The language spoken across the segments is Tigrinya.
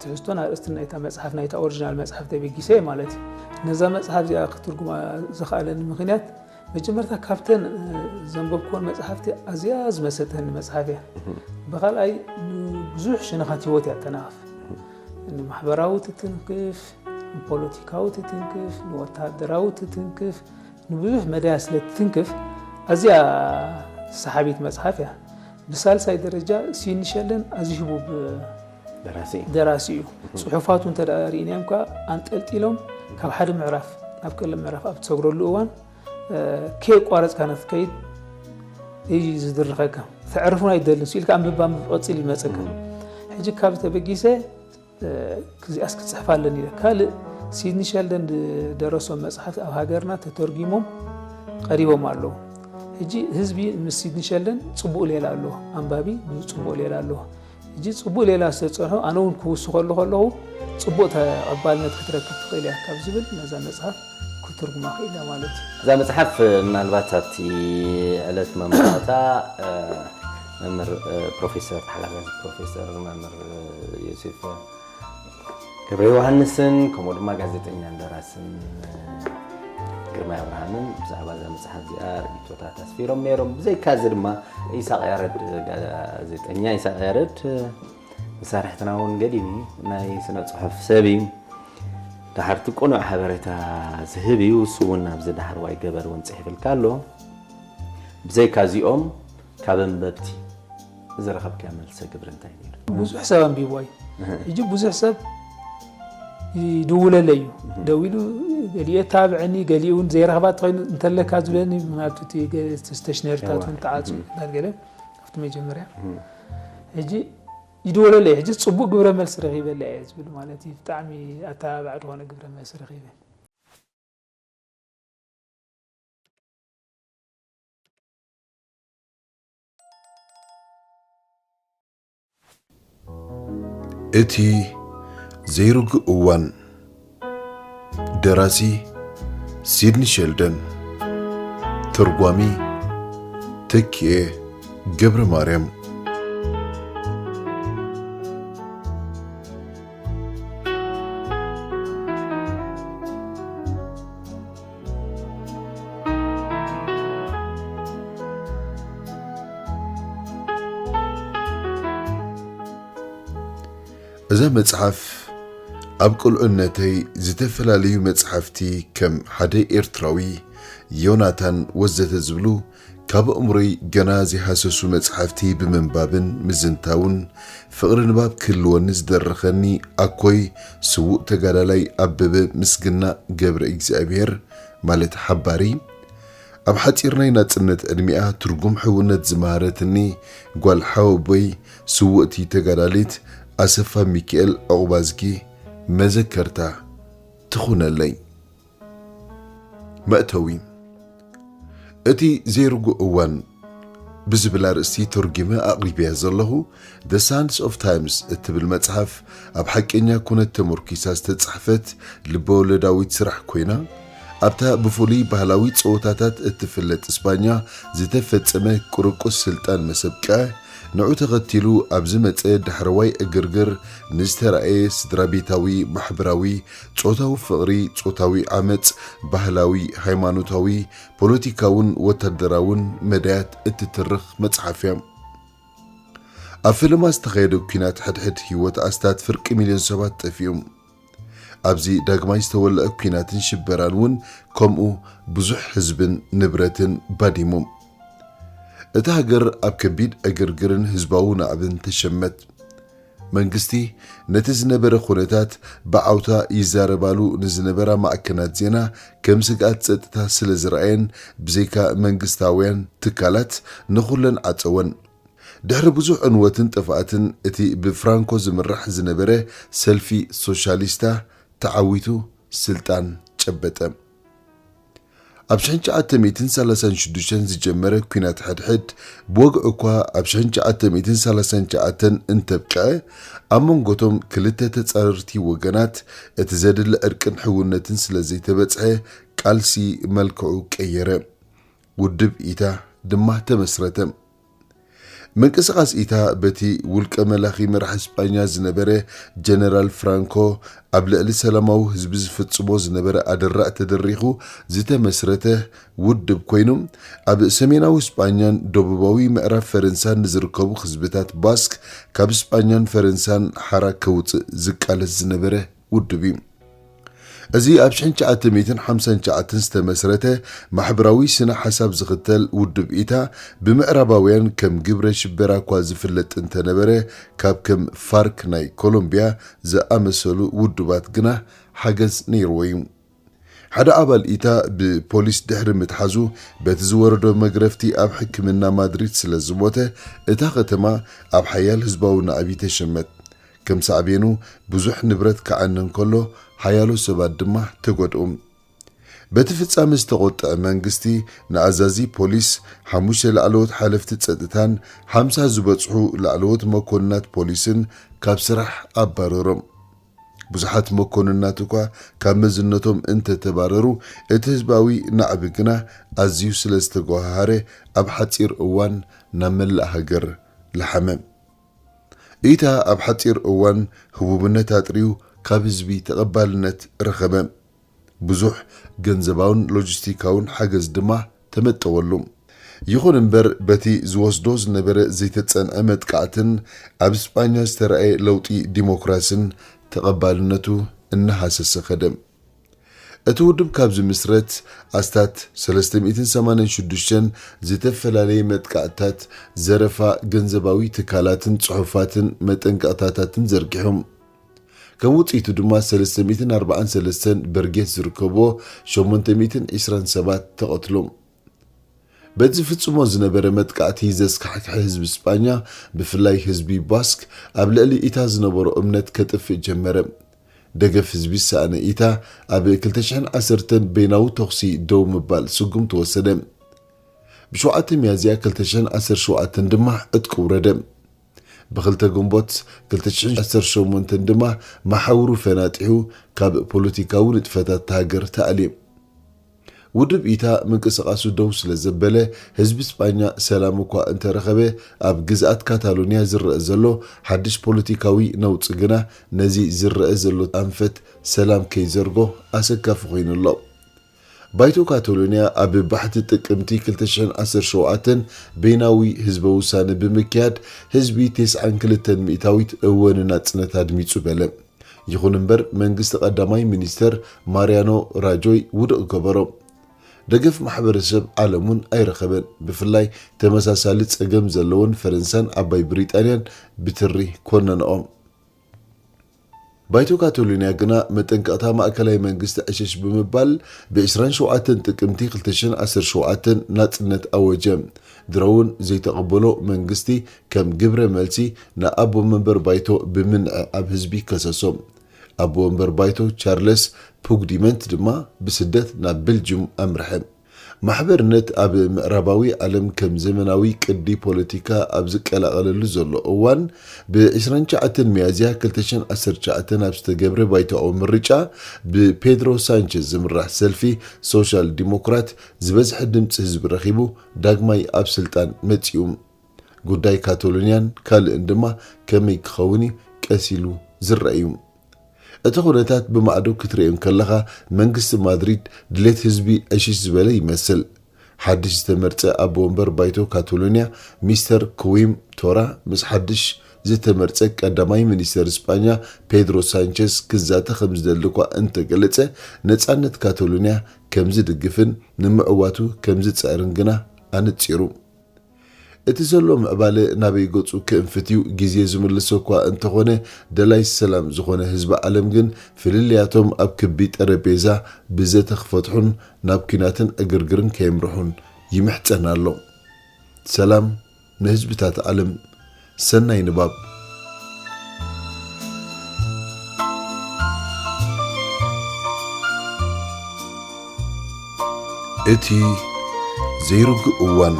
ትሕዝቶን ኣርእስትን ናይታ መጽሓፍ ናይታ ኦሪጂናል መጽሓፍ ተበጊሰ እየ ማለት እዩ ነዛ መጽሓፍ እዚኣ ክትርጉማ ዝኸኣለኒ ምክንያት መጀመርታ ካብተን ዘንበብኩወን መጽሓፍቲ ኣዝያ ዝመሰተኒ መጽሓፍ እያ ብካልኣይ ብዙሕ ሽነኻት ህይወት እያ ተናቕፍ ንማሕበራዊ ትትንክፍ ንፖለቲካዊ ትትንክፍ ንወተሃደራዊ ትትንክፍ ንብዙሕ መዳያ ስለ ትትንክፍ ኣዝያ ሰሓቢት መጽሓፍ እያ ብሳልሳይ ደረጃ ሲንሸልን ኣዝዩ ህቡብ ደራሲ እዩ። ፅሑፋቱ እንተ ርኢናዮም ከዓ ኣንጠልጢሎም ካብ ሓደ ምዕራፍ ናብ ቀለም ምዕራፍ ኣብ ትሰግረሉ እዋን ከየቋረፅካ ንክትከይድ እዩ ዝድርኸካ ተዕርፉን ኣይደልን ስኢልካ ኣንብባ ቀፂል ይመፀካ ሕጂ ካብ ተበጊሰ ክዚኣስ ክፅሕፍ ኣለኒ ኢለ ካልእ ሲድኒ ሸልደን ዝደረሶም መፅሓፍቲ ኣብ ሃገርና ተተርጊሞም ቀሪቦም ኣለዉ ሕጂ ህዝቢ ምስ ሲድኒ ሸልደን ፅቡቅ ሌላ ኣለዎ ኣንባቢ ፅቡቅ ሌላ ኣለዎ ሕጂ ጽቡቕ ሌላ ስለ ዝጸንሑ ኣነ እውን ክውስኸሉ ከለኹ ጽቡቕ ተቐባልነት ክትረክብ ትኽእል እያ ካብ ዝብል ነዛ መጽሓፍ ክትርጉማ ክእል እያ ማለት እዩ። እዛ መጽሓፍ ምናልባት ኣብቲ ዕለት መምራታ መምህር ፕሮፌሰር ተሓጋጋዚ ፕሮፌሰር መምህር ዮሴፍ ገብረ ዮሃንስን ከምኡ ድማ ጋዜጠኛን ደራስን ግርማይ ኣብርሃምን ብዛዕባ እዛ መፅሓፍ እዚኣ ርኢቶታት ኣስፊሮም ነይሮም ብዘይካ እዚ ድማ ኢሳቅ ያረድ ጋዜጠኛ ኢሳቅ ያረድ መሳርሕትና እውን ገዲም እዩ ናይ ስነ ፅሑፍ ሰብ እዩ ድሓርቲ ቅኑዕ ሓበሬታ ዝህብ እዩ እሱ እውን ኣብዚ ዳሕርዋይ ገበር እውን ፅሒፍልካ ኣሎ ብዘይካ እዚኦም ካብ ኣንበብቲ ዝረኸብካዮ መልሰ ግብሪ እንታይ ነይሩ? ብዙሕ ሰብ ኣንቢብዋ እዩ። ሕጂ ብዙሕ ሰብ ይድውለለ እዩ ደዊሉ ገሊኡ የታብዐኒ ገሊኡ እውን ዘይረኽባ ተኸይኑ እንተለካ ዝብለኒ ማለት እቲ ስቴሽነሪታት እውን ተዓፁ ገለ ኣብቲ መጀመርያ ሕጂ ይድወለለ እዩ ሕጂ ፅቡቅ ግብረ መልሲ ረኺበለ እየ ዝብል ማለት እዩ ብጣዕሚ ኣተባባዕ ዝኾነ ግብረ መልሲ ረኺበ እቲ ዘይርጉእ እዋን ደራሲ ሲድኒ ሸልደን ተርጓሚ ተኪኤ ገብረ ማርያም እዛ መጽሓፍ ኣብ ቅልዑነተይ ዝተፈላለዩ መጽሓፍቲ ከም ሓደ ኤርትራዊ፣ ዮናታን ወዘተ ዝብሉ ካብ ኣእምሮይ ገና ዘይሃሰሱ መጻሕፍቲ ብምንባብን ምዝንታውን ፍቕሪ ንባብ ክህልወኒ ዝደረኸኒ ኣኮይ ስዉእ ተጋዳላይ ኣበበ ምስግና ገብረእግዚኣብሄር ማለት ሓባሪ ኣብ ሓጺር ናይ ናጽነት ዕድሚኣ ትርጉም ሕውነት ዝመሃረትኒ ጓል ሓወቦይ ስውእቲ ተጋዳሊት ኣሰፋ ሚኪኤል ዑቕባዝጊ መዘከርታ ትኹነለይ። መእተዊ እቲ ዘይርጉእ እዋን ብዝብል ኣርእስቲ ተርጒመ ኣቕሪበያ ዘለኹ The Sands of Times እትብል መጽሓፍ ኣብ ሓቀኛ ኩነት ተመርኲሳ ዝተጻሕፈት ልበወለዳዊት ስራሕ ኮይና ኣብታ ብፍሉይ ባህላዊ ጸወታታት እትፍለጥ እስጳኛ ዝተፈጸመ ቁርቁስ ስልጣን መሰብቀ ንዑ ተኸቲሉ ኣብ ዝመጸ ዳሕረዋይ ዕግርግር ንዝተራእየ ስድራቤታዊ ማሕበራዊ ጾታዊ ፍቕሪ፣ ጾታዊ ዓመጽ፣ ባህላዊ፣ ሃይማኖታዊ፣ ፖለቲካውን ወታደራውን መዳያት እትትርኽ መጽሓፍ እያ። ኣብ ፈለማ ዝተኻየደ ኲናት ሕድሕድ ህይወት ኣስታት ፍርቂ ሚልዮን ሰባት ጠፊኡ። ኣብዚ ዳግማይ ዝተወልዐ ኲናትን ሽበራን እውን ከምኡ ብዙሕ ህዝብን ንብረትን ባዲሙ። እታ ሃገር ኣብ ከቢድ ዕግርግርን ህዝባዊ ናዕብን ተሸመት። መንግስቲ ነቲ ዝነበረ ኩነታት ብዓውታ ይዛረባሉ ንዝነበራ ማዕከናት ዜና ከም ስግኣት ጸጥታ ስለ ዝረኣየን ብዘይካ መንግስታውያን ትካላት ንኹለን ዓጸወን። ድሕሪ ብዙሕ ዕንወትን ጥፍኣትን እቲ ብፍራንኮ ዝምራሕ ዝነበረ ሰልፊ ሶሻሊስታ ተዓዊቱ ስልጣን ጨበጠ። ኣብ ሽሕን ትሽዓተ ሚእትን ሰላሳን ሽዱሽተን ዝጀመረ ኲናት ሕድሕድ ብወግዒ እኳ ኣብ ሽሕን ትሽዓተ ሚእትን ሰላሳን ትሽዓተን እንተብቅዐ፣ ኣብ መንጎ'ቶም ክልተ ተጻረርቲ ወገናት እቲ ዘድሊ ዕርቅን ሕውነትን ስለ ዘይተበጽሐ ቃልሲ መልክዑ ቀየረ። ውድብ ኢታ ድማ ተመስረተ። ምንቅስቓስ ኢታ በቲ ውልቀ መላኺ መራሒ ስጳኛ ዝነበረ ጀነራል ፍራንኮ ኣብ ልዕሊ ሰላማዊ ህዝቢ ዝፍጽሞ ዝነበረ ኣደራዕ ተደሪኹ ዝተመስረተ ውድብ ኮይኑ ኣብ ሰሜናዊ ስጳኛን ደቡባዊ ምዕራብ ፈረንሳን ንዝርከቡ ህዝብታት ባስክ ካብ ስጳኛን ፈረንሳን ሓራ ከውጽእ ዝቃለስ ዝነበረ ውድብ እዩ። እዚ ኣብ ሽሕን ትሽዓተ ሚእትን ሓምሳን ትሽዓተን ዝተመስረተ ማሕበራዊ ስነ ሓሳብ ዝኽተል ውድብ ኢታ ብምዕራባውያን ከም ግብረ ሽበራ እኳ ዝፍለጥ እንተነበረ ካብ ከም ፋርክ ናይ ኮሎምብያ ዝኣመሰሉ ውድባት ግና ሓገዝ ነይርዎ እዩ። ሓደ ኣባል ኢታ ብፖሊስ ድሕሪ ምትሓዙ በቲ ዝወረዶ መግረፍቲ ኣብ ሕክምና ማድሪድ ስለ ዝሞተ እታ ከተማ ኣብ ሓያል ህዝባዊ ናእቢ ተሸመት። ከም ሳዕቤኑ ብዙሕ ንብረት ክዓኒ እንከሎ ሓያሎ ሰባት ድማ ተጎድኡ። በቲ ፍጻመ ዝተቖጥዐ መንግስቲ ንኣዛዚ ፖሊስ፣ ሓሙሽተ ላዕለዎት ሓለፍቲ ጸጥታን ሓምሳ ዝበጽሑ ላዕለዎት መኮንናት ፖሊስን ካብ ስራሕ ኣባረሮም። ብዙሓት መኮንናት እኳ ካብ መዝነቶም እንተ ተባረሩ፣ እቲ ህዝባዊ ናዕቢ ግና ኣዝዩ ስለ ዝተጎሃሃረ ኣብ ሓጺር እዋን ናብ መላእ ሃገር ለሓመ። እይታ ኣብ ሓጺር እዋን ህቡብነት ኣጥርዩ ካብ ህዝቢ ተቐባልነት ረኸበ። ብዙሕ ገንዘባውን ሎጂስቲካውን ሓገዝ ድማ ተመጠወሉ። ይኹን እምበር በቲ ዝወስዶ ዝነበረ ዘይተጸንዐ መጥቃዕትን ኣብ ስጳኛ ዝተራእየ ለውጢ ዲሞክራስን ተቐባልነቱ እናሃሰሰ ከደ። እቲ ውድብ ካብ ዝምስረት ኣስታት ሰለስተ ሚእትን ሰማንያን ሽዱሽተን ዝተፈላለየ መጥቃዕትታት፣ ዘረፋ ገንዘባዊ ትካላትን ጽሑፋትን መጠንቀቕታታትን ዘርጊሑ። ከም ውጽኢቱ ድማ ሰለስተ ሚእትን ኣርባዓን ሰለስተን በርጌስ ዝርከብዎ ሸሞንተ ሚእትን ዕስራን ሰባት ተቐትሎም። በቲ ዝፍጽሞ ዝነበረ መጥቃዕቲ ዘስካሕክሐ ህዝቢ ስጳኛ ብፍላይ ህዝቢ ባስክ ኣብ ልዕሊ ኢታ ዝነበሮ እምነት ከጥፍእ ጀመረ። ደገፍ ህዝቢ ዝሰኣነ ኢታ ኣብ ክልተ ሽሕን ዓሰርተን በይናዊ ተኹሲ ደው ምባል ስጉም ተወሰደ። ብሸውዓተ ሚያዝያ ክልተ ሽሕን ዓሰርተ ሸውዓተን ድማ ዕጥቂ ውረደ። ብክልተ ግንቦት ክልተ ሽሕን ዓሰርተ ሸሞንተን ድማ መሓውሩ ፈናጢሑ ካብ ፖለቲካዊ ንጥፈታት'ታ ሃገር ተኣልዩ። ውድብ ኢታ ምንቅስቓሱ ደው ስለ ዘበለ፣ ህዝቢ ስጳኛ ሰላም እኳ እንተ ረኸበ፣ ኣብ ግዝኣት ካታሎንያ ዝረኣ ዘሎ ሓድሽ ፖለቲካዊ ነውጺ ግና ነዚ ዝረኣ ዘሎ ኣንፈት ሰላም ከይዘርጎ ኣሰካፊ ኮይኑ ኣሎ። ባይቶ ካታሎንያ ኣብ ባሕቲ ጥቅምቲ ክልተ ሽሕን ዓሰርተ ሸውዓተን በይናዊ ህዝበ ውሳነ ብምክያድ ህዝቢ ቴስዓን ክልተን ሚእታዊት እወ ንናጽነት ኣድሚጹ በለ። ይኹን እምበር መንግስቲ ቀዳማይ ሚኒስተር ማርያኖ ራጆይ ውድቕ ገበሮ። ደገፍ ማሕበረሰብ ዓለም'ውን ኣይረኸበን፣ ብፍላይ ተመሳሳሊ ጸገም ዘለወን ፈረንሳን ዓባይ ብሪጣንያን ብትሪ ኮነነኦ። ባይቶ ካታሎንያ ግና መጠንቀቕታ ማእከላይ መንግስቲ ዕሽሽ ብምባል ብ ዕስራን ሸውዓተን ጥቅምቲ ክልተ ሽሕን ዓሰርተ ሸውዓተን ናጽነት ኣወጀ። ድሮ'ውን ዘይተቐበሎ መንግስቲ ከም ግብረ መልሲ ን ኣቦ መንበር ባይቶ ብምንዕዓብ ህዝቢ ከሰሶ። ኣቦ መንበር ባይቶ ቻርለስ ፑግዲመንት ድማ ብስደት ናብ በልጅዩም ኣምርሐ። ማሕበርነት ኣብ ምዕራባዊ ዓለም ከም ዘመናዊ ቅዲ ፖለቲካ ኣብ ዝቀላቐለሉ ዘሎ እዋን ብ ዕስራን ትሽዓተን ሚያዝያ ክልተ ሽሕን ዓሰርተ ትሽዓተን ኣብ ዝተገብረ ባይቶኣዊ ምርጫ ብፔድሮ ሳንቸዝ ዝምራሕ ሰልፊ ሶሻል ዲሞክራት ዝበዝሐ ድምፂ ህዝቢ ረኺቡ ዳግማይ ኣብ ስልጣን መፂኡ። ጉዳይ ካቶሎንያን ካልእን ድማ ከመይ ክኸውን እዩ ቀስ ኢሉ ዝረኣ እዩ። እቲ ኩነታት ብማዕዶ ክትርእዮ እንከለኻ መንግስቲ ማድሪድ ድሌት ህዝቢ ዕሽሽ ዝበለ ይመስል። ሓድሽ ዝተመርጸ ኣቦ ወንበር ባይቶ ካታሎንያ ሚስተር ክዊም ቶራ ምስ ሓድሽ ዝተመርጸ ቀዳማይ ሚኒስተር ስጳኛ ፔድሮ ሳንቸዝ ክዛተ ከምዝደሊ'ኳ እንተገለጸ ነጻነት ካታሎንያ ከምዝድግፍን ንምዕዋቱ ከምዝጽዕርን ግና ኣነጺሩ። እቲ ዘሎ ምዕባለ ናበይ ገጹ ክእንፍት እዩ ግዜ ዝምልሶ እኳ እንተኾነ ደላይ ሰላም ዝኾነ ህዝቢ ዓለም ግን ፍልልያቶም ኣብ ክቢ ጠረጴዛ ብዘተ ክፈትሑን ናብ ኲናትን ዕግርግርን ከየምርሑን ይምሕጸን ኣሎ። ሰላም ንህዝብታት ዓለም! ሰናይ ንባብ። እቲ ዘይርጉእ እዋን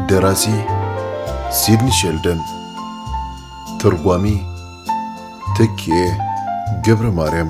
ደራሲ ሲድኒ ሸልደን ተርጓሚ ተኪኤ ገብረ ማርያም